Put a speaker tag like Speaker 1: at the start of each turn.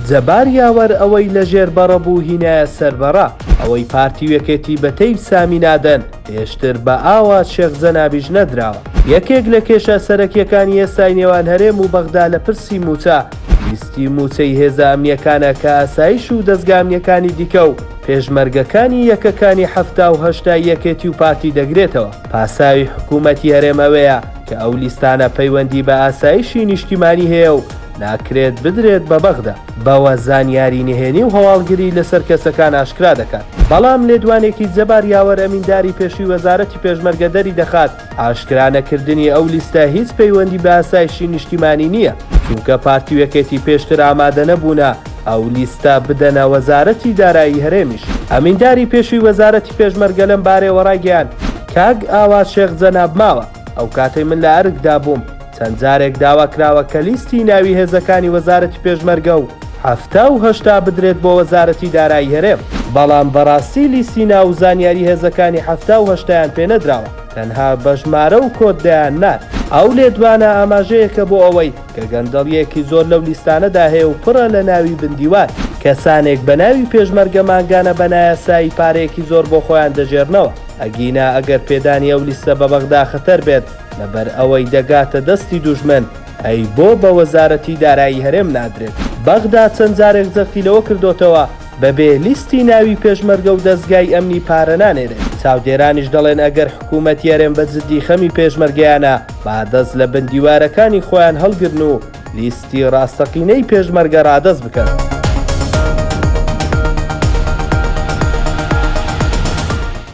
Speaker 1: جەبار یاوەر ئەوەی لە ژێر بەڕە بوو هینایە سەر بەڕە ئەوەی پارتی و یەکێتی بە تەیف سامی نادەن پێشتر بە ئاوە شێخ جەنابیش نەدراوە. یەکێک لە کێشە سەرەکیەکانی ئێستای نێوان هەرێم و بەغدا لە پرسی مووچە لیستی مووچەی هێزە ئەمنیەکانە کە ئاسایش و دەزگا ئەمنیەکانی دیکە و پێشمەرگەکانی یەکەکانی حەفتا و هەشتا ی یەکێتی و پارتی دەگرێتەوە پاساوی حکومەتی هەرێم ئەوەیە کە ئەو لیستانە پەیوەندی بە ئاسایشی نیشتیمانی هەیە و ناکرێت بدرێت بە بەغدا، بەوە زانیاری نهێنی و هەواڵگری لەسەر کەسەکان ئاشکرا دەکات، بەڵام لێدوانێکی جەبار یاوەر ئەمینداری پێشووی وەزارەتی پێشمەرگە دەریدەخات، ئاشکرا نەکردنی ئەو لیستە هیچ پەیوەندی بە ئاسایشی نیشتیمانی نییە، چونکە پارتی و یەکێتی پێشتر ئامادەنەبوونە ئەو لیستە بدەنە وەزارەتی دارایی هەرێمیش. ئەمینداری پێشووی وەزارەتی پێشمەرگە لەم بارەیەوە رایگەیاند، کاک ئاوات شێخ جەناب ماوە، ئەو کاتەی من لە ئەرکدا بووم چەند جارێک داوا کراوە کە لیستی ناوی هێزەکانی وەزارەتی پێشمەرگە و حەفتا و هەشتا بدرێت بۆ وەزارەتی دارایی هەرێم، بەڵام بەڕاستی لیستی ناو و زانیاری هێزەکانی حەفتا و هەشتایان پێ نەدراوە، تەنها بە ژمارە و کۆد دەیان نارد. ئەو لێدوانە ئاماژەیەکە بۆ ئەوەی کە گەندەڵییەکی زۆر لەو لیستانەدا هەیە و پڕە لە ناوی بن دیوار. کەسانێک بە ناوی پێشمەرگە مانگانە بە نایاسایی پارەیەکی زۆر بۆ خۆیان دەژێرنەوە. ئەگینا ئەگەر پێدانی ئەو لیستە بە بەغدا خەتەر بێت لەبەر ئەوەی دەگاتە دەستی دوژمن، ئەی بۆ بە وەزارەتی دارایی هەرێم نادرێت؟ بەغدا چەند جارێک جەختی لەوە کردۆتەوە بەبێ لیستی ناوی پێشمەرگە و دەزگای ئەمنی پارە نانێرێت، چاودێرانیش دەڵێن ئەگەر حکوومەتی هەرێم بە جددی خەمی پێشمەرگەیانە با دەست لە بن دیوارەکانی خۆیان هەڵگرن و لیستی ڕاستەقینەی پێشمەرگە ڕادەست بکەن.